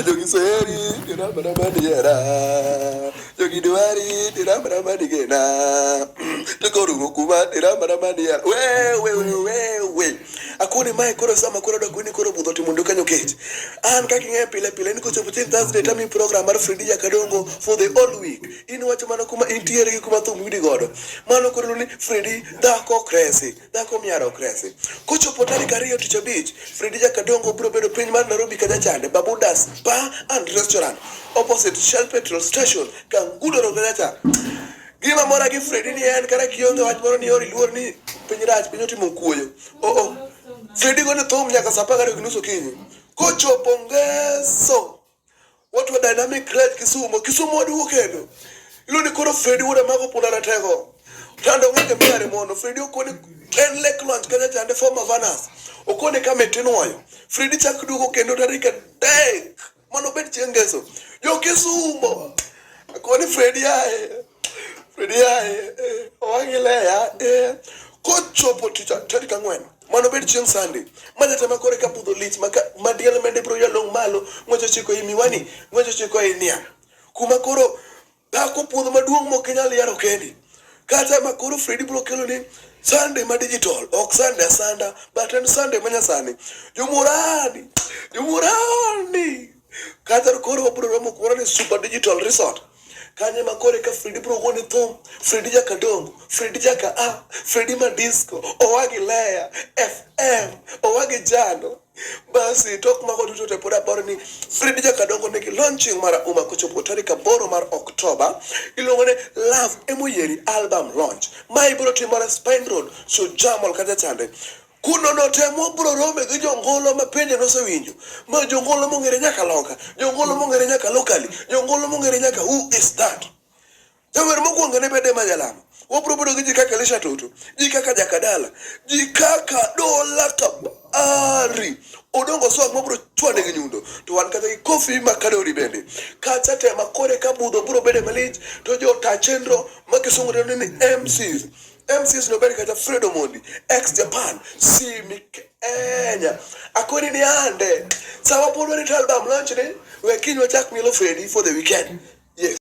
Jogiseri, Jorabarabadiera, Jogidwari, Jorabarabadiena, Tokorukuba, Jorabarabadiera, wewe, wewe. Akuni mae koro sama koro dok ni koro budho timo nduka nyokech. An kaka ing'e pile pile ni kochopo chieng' Thursday tami program mar Fridi Jakadongo for the whole week. In wacho mana kuma intiere gi kuma thum yudi godo. Mano koro ni Fridi dhako kresi. dhako miara ok resi. Kochopo tarik ariyo tich abich, Fredija Kadongo biro bedo piny mar Nairobi Kajachande, Babudas Bar and Restaurant, opposite Shell Petrol Station, Kangudo Road Kajacha. Gima mora gi Fredi ni en kata kionge wach moro ni ori luor ni piny rach piny otimo kuoyo. Oh oh. Fredi go ne thum nyaka saa apar gariyo gi nus okinyi. Kochopo ngeso Watu wa Dynamic Club Kisumo, Kisumo wadugu kendo. Ilo ni koro Fredi wuod Amako punda ratego. Tando ng'enge mare mono, Fredi okone en lek lwanch kanya chande former vanas. Okone kama itinwayo. Fredi chak duogo kendo tarik adek. Mano bed chieng' ngeso. Jo Kisumo. Akoni Fredi ae. kochopo tich tarik ang'wen mondo obed chieng' sande manyata ma kore ka budho lich ma diel mende biro yalong' malo ng'wecho chiko i miwani ng'wecho chiko i niang' kuma koro dhako puodho maduong' mok inyal yaro kendi kata ma koro fredi biro kelo ni Sunday ma digital ok Sunday asanda but en Sunday ma nyasani. Jomurani, jomurani. Kadhar koro wabro romo kumoro ni Super Digital Resort. Kanye makore ka Fredi bro gone thum, Fredi jaka dongo, Fredi jaka a, Fredi ma disco, owagi leya, FM, owagi jano. Basi tok mago duto te pod aparo ni Fredi jaka dongo nigi launching mar Uma kochopo tarik aboro mar Oktoba. Iluongo ni Love Emoyeri Album Launch. Ma ibiro timore Spine Road, Sujamol kacha chande. Kuno notemo bro rome gi jongolo ma pende nosewinjo. Ma jongolo mong'ere nyaka loka, jongolo mong'ere nyaka lokali, jongolo mong'ere nyaka who is that. Jawer mokwongo ne bede ma jalamo. Wabro bedo gi ji kaka Elisha Toto, ji kaka Jakadala, ji kaka Dola Kabari. Odongo swag mabro chwane gi nyundo. To wan kata gi Kofi Makadori bende. Kacha tema kore ka budho bro bede malich to jota chenro ma kisungu dendo ni MCs. MCS nobed kata Fred Omondi ex Japan simi Kenya akoni ni ande sama pod wani album launch ni we kinywa chak mielo Fredi for the weekend yes